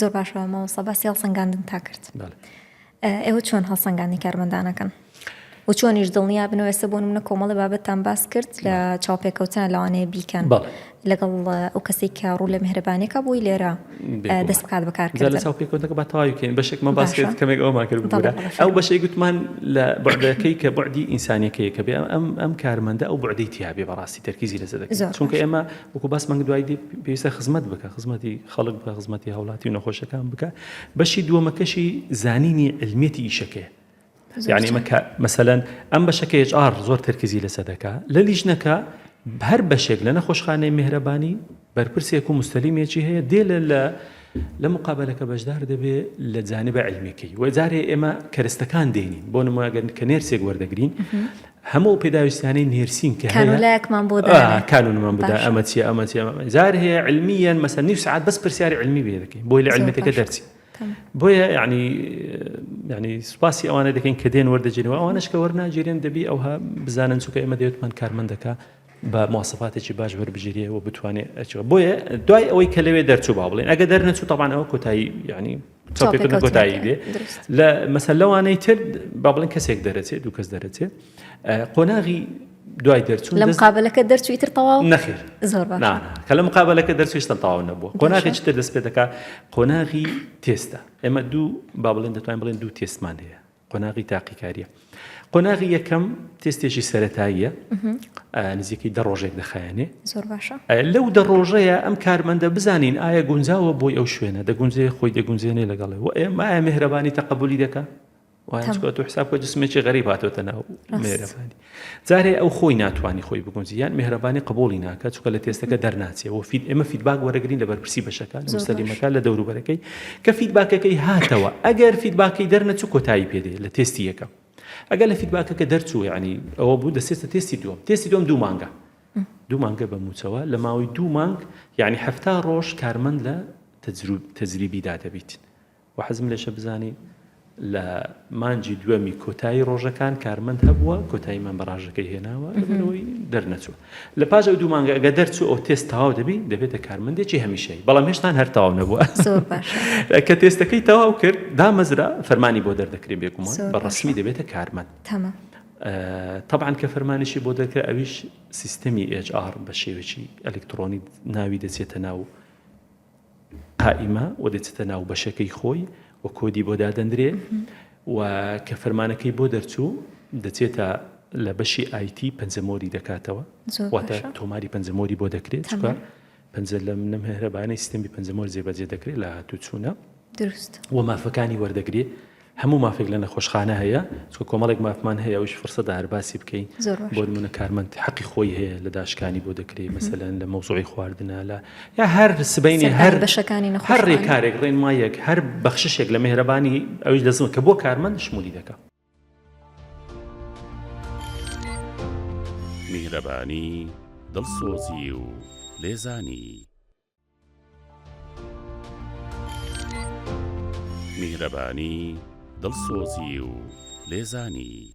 زۆر باشە مامۆستا باسی هەڵسەنگاندن تا کرد ئێوە چۆن هەڵسەنگاندی کارمەندانەکەن و چۆنیش دڵنیا بنوێسە بۆن منە کۆمەڵی بابەتان باس کرد لە چاوپێکەوتان لەوانەیە بیکەن لەگەڵ ئەو کەسێک کە ڕوو لە مهرەبانەکە بۆی لێرە دەست بکات بەکار لە چاوپێکەوتەکە بە تاواویکەین بەشێکمە باس کرد کەمێک ئەومان کرد بگەرە ئەو بەشەی گوتمان لە بەعدەکەی کە بەعدی ئینسانەکەی کە بێ ئەم ئەم کارمەندە ئەو بەعدەی تیاابێ بەڕاستی تەرکیزی لەزە دەکەن چونکە ئێمە وەکو باس مەنگ دوای پێویستە خزمەت بکە خزمەتی خەڵک بکە خزمەتی هاوڵاتی و نەخۆشەکان بکە بەشی دووەمەکەشی زانینی علمیەتی ئیشەکەی یعنی مەکە مەسەەن ئەم بەشەکە HR زۆر تەرکزی لەسە دەکا لە لیژنەکە هەر بەشێک لە نەخۆشخانەی مهرەبانی بەرپرسێک و مستەلیمێکی هەیە دێ لە لە لە مقابلەکە بەشدار دەبێ لە جانبە علمەکەی وەجارێ ئێمە کەرستەکان دێنین بۆ نموگەن کە نێرسێک وەردەگرین هەموو ئەو پێداویستیانەی نێرسین کە هەیە. کانوولایەکمان بۆ دانێ. ئا کانوونمان بۆ دانێ. ئەمە چییە ئەمە چییە ئەمە. جار هەیە علمییەن مەسەلەن نیو سەعات بەس پرسیاری علمی بۆ دەکەین بۆی لە علمییەتەکە دەرچی. بۆیە یانی یانی سوپاسی ئەوانە دەکەین کە دێن وەردەگیرن و ئەوانەش کە وەرناگیرێن دەبی ئەوها بزانن چونکە ئێمە دەوێتمان کارمەندەکە با مواسەفاتێکی باش وەربگیرێ و بتوانێ ئەچوە بۆیە دوای ئەوەی کە لەوێ دەرچوو با بڵێن ئەگە دەرنەچوو تەبان ئەوە کۆتایی یعنی چاپێکردن کۆتایی بێ لە مەسەر لەوانەی تر با بڵێن کەسێک دەرەچێت دوو کەس دەرەچێت قۆناغی دوای دەرچوو لە مقابلەکە دەرچوی تر تەواو نەخێر زۆر کە لە مقابلەکە دەرچویشتن تاو نەبوو قۆناغێکی تر دەست پێ دەکات قۆناغی تێستە ئێمە دوو با بڵێن دەتوانین بڵێن دوو تێستمان هەیە قۆناغی تاقیکاریە قۆناغی یەکەم تێستێکی سەتاییە نزیکەی دە ڕۆژێک دەخایەنێ زۆر باشە لەو دە ڕۆژەیە ئەم کارمەندە بزانین ئایا گونجاوە بۆی ئەو شوێنە دەگونجێ خۆی دەگونجێنێ لەگەڵێ و ئێمە ئایا مهرەبانی تەقبولی دەکە وایکات و حساب بە جسمێکی غەریب هاتۆتە ناو مێرەبانی جارێ ئەو خۆی ناتوانی خۆی بگونجی یان میهرەبانی قبوڵی ناکات چونکە لە تێستەکە دەرناچێ وە فید ئێمە فیدباک وەرەگرین لە بەرپرسی بەشەکان مستەلیمەکان لە دەوروبەرەکەی کە فیدباکەکەی هاتەوە ئەگەر فیدباکەی دەرنەچوو کۆتایی پێدێ لە تێستی یەکەم ئەگەر لە فیدباکەکە دەرچوو یعنی ئەوە بوو دەسێتە تێستی دووەم تێستی دوم دوو مانگە دوو مانگە بە موچەوە لە ماوەی دوو مانگ یعنی هەفتا ڕۆژ کارمەند لە تەجروب تەجریبیدا دەبیت وەحەزم لێشە بزانی لە مانگی دووەمی کۆتایی ڕۆژەکان کارمەند هەبووە کۆتاییمان بە ڕاژەکەی هێناوە لەبەرەوەی دەرنەچووە لە پاش ئەو دوو مانگە ئەگە دەرچوو ئەو تێست تەواو دەبی دەبێتە کارمەندێکی هەمیشەی بەڵام هێشتان هەر تەواو نەبووە زۆر باش ە. کە تێستەکەی تەواو کرد دامەزرا فەرمانی بۆ دەردەکرێ بێگومان زۆر بە باشە. ڕەسمی دەبێتە کارمەند تەمام ئە، تەبعەن کە فەرمانیشی بۆ دەرکرا ئەویش سیستەمی ئێچ ئاڕ بە شێوەیەکی ئەلکتڕۆنی ناوی دەچێتە ناو قائیمە و دەچێتە ناو بەشەکەی خۆی و کۆدی بۆ دادەندرێ و کە فەرمانەکەی بۆ دەرچوو دەچێتە لە بەشی ئایتی پەنجەمۆری دەکاتەوە واتە تۆماری پەنجەمۆری بۆ دەکرێت چکە پەنجە لەم نەم هێرەبانەی سیستمی پەنجەمۆر جێبەجێ دەکرێت لە هاتوو چوونە دروست و مافەکانی وەردەگرێت هەموو مافێک لە نەخۆشخانە هەیە چکە کۆمەڵێک مافمان هەیە ئەوش فرسەدە هەر باسی بکەین بۆ نمونە کارمەند حەقی خۆی هەیە لە داشکانی بۆ دەکرێت مەسەلەن لە مەوزوعی خواردنە لە یا هەر سبینی هەر بەشەکانی هەر ڕێکارێک ڕێنمایەک هەر بەخششێک لە مهرەبانی ئەوش لەزمە کە بۆ کارمەند شمولی دەکە میهرەبانی دڵسۆزی و لێزانی. میهرەبانی، دڵسۆزی و لێزانی.